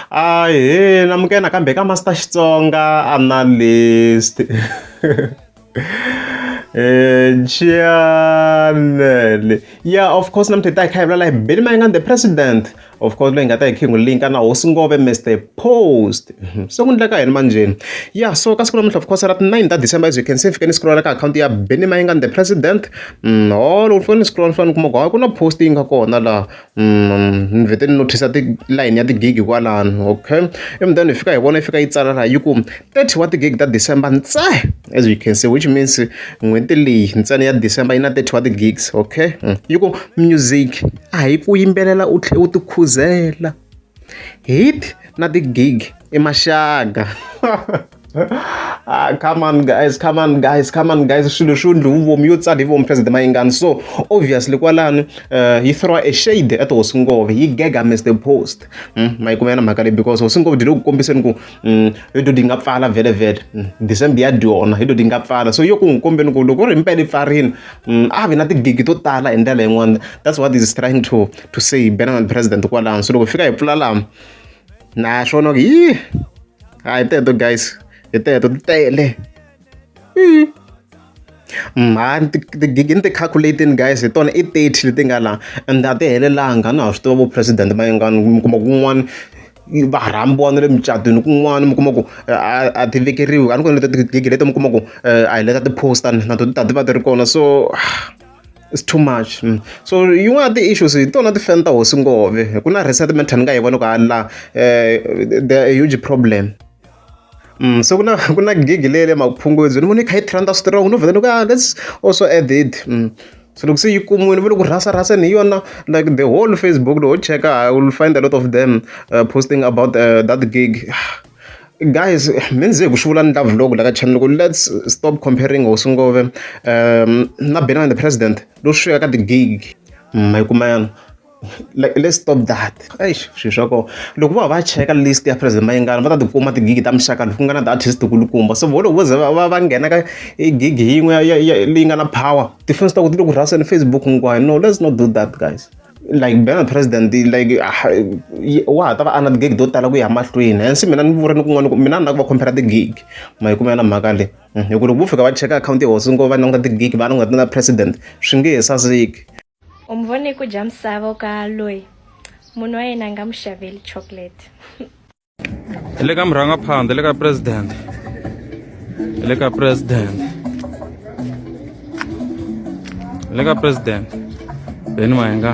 Ahee amuka nakambe ka Master Xitsonga Analyst Channel ya of course namuntlha hi ta hi kha hi vulavula hi Billy Mayengani the President of course loyi hi nga ta hi kha hi n'wi linka na Hosi Ngove Mister Post se ku endleka yini manjheni ya so ka siku namuntlha of course ra ti nine ta December as you can see ni fike ni scrolla ka akhawunti ya Billy Mayengani the President holo ni fane ni scrolla ni fane ni kuma ku hayi ku na post yi nga kona laha. ni vhete ni notice-a tilayini ya ti-gig kwalano okay ivi then hi fika hi vona yi fika yi tsala laha yi ku thirty wa ti-gig ta December ntsena as you can see which means n'hweti leyi ntsena ya December yi na thirty wa ti-gigs okay yi ku music a hi ku yimbelela u tlhela u tikhuzela hit na ti-gig i maxaka. Ah, come on guys come on guys come on guys swilo swo ndli wu vomi yo tsala hi vomi president mayingani so obviously kwalani uh, yi throw a shade at hosi ngove yi gega mr post mm, mayikumela na mhaka leyi because hosi ngove dilo ku kombiseni ku mm, hi to di nga pfala vhele vhele mm, december ya dyona hi to di nga pfala so yo ku n'wi kombeni ku loko ri mpela yi pfarini mm, a vi na tigigi to tala hi ndlela yin'wana that's what is trying to, to say benana president kwalano so loko fika hi pfula lama naswona yi a hi teto guys hi teto ti tele mm. Mm, ha tigigi ni ti-calculating guys hi tona i thirty leti nga laha and a ti helelanga a na ha swi tiva vo president va yingani mi kuma kun'wana va rhambiwa na le mucatwini kun'wana mi kuma ku a ti vekeriwi a ni kona leto tigigi leto mi kuma ku a hi leta ti-poster na to ti ta ti va ti ri kona so It's too much so yin'wana ya ti-issues hi tona ti fan ta hosi nghohe ku na resettlement ni nga yi vona ku hala la the huge problem se ku na ku na gig leyi ya le maphungudzweni ni vona yi kha yi trend-a strong no vhela ni ku lets also add it se loko se yi kumiwile ni vona ku rhasa rhaseni hi yona like the whole Facebook loko ho cheka u will find a lot of them posting about that gig. Guys me ni ze hi ku swi vula ni love loko la ka channel ku let's stop comparing hosi ngove na Benani the president lo swi ka ti-gig ma yi kuma yana like let's stop that eish swi swa koho loko vo ya va ya cheka list ya president Mayengani va ta ti kuma ti-gig ta muxaka lowu ku nga na ti-artist kulukumba so vo loko vo ze va va va nghena ka i gig yin'we ya ya leyi nga na power tifoni ta vona ti le ku rhaseni Facebook hinkwayo no let's not do that guys. like being a president like wa ha ta va a na ti-gig to tala ku ya mahlweni hence mina ni vure ni kun'wana ku mina ni na ku va compare ti-gig ma yi kumela mhaka le hmm, hi ku loko vo fika va cheka akhawunti ya hosi ngo va languta ti-gig va languta na president swi nge he saseki u mi vone ku dya misava ka loyi munhu wa yena a nga mu xaveli chocolate le ka murhangaphandha le ka president le ka president le ka president beni mayenga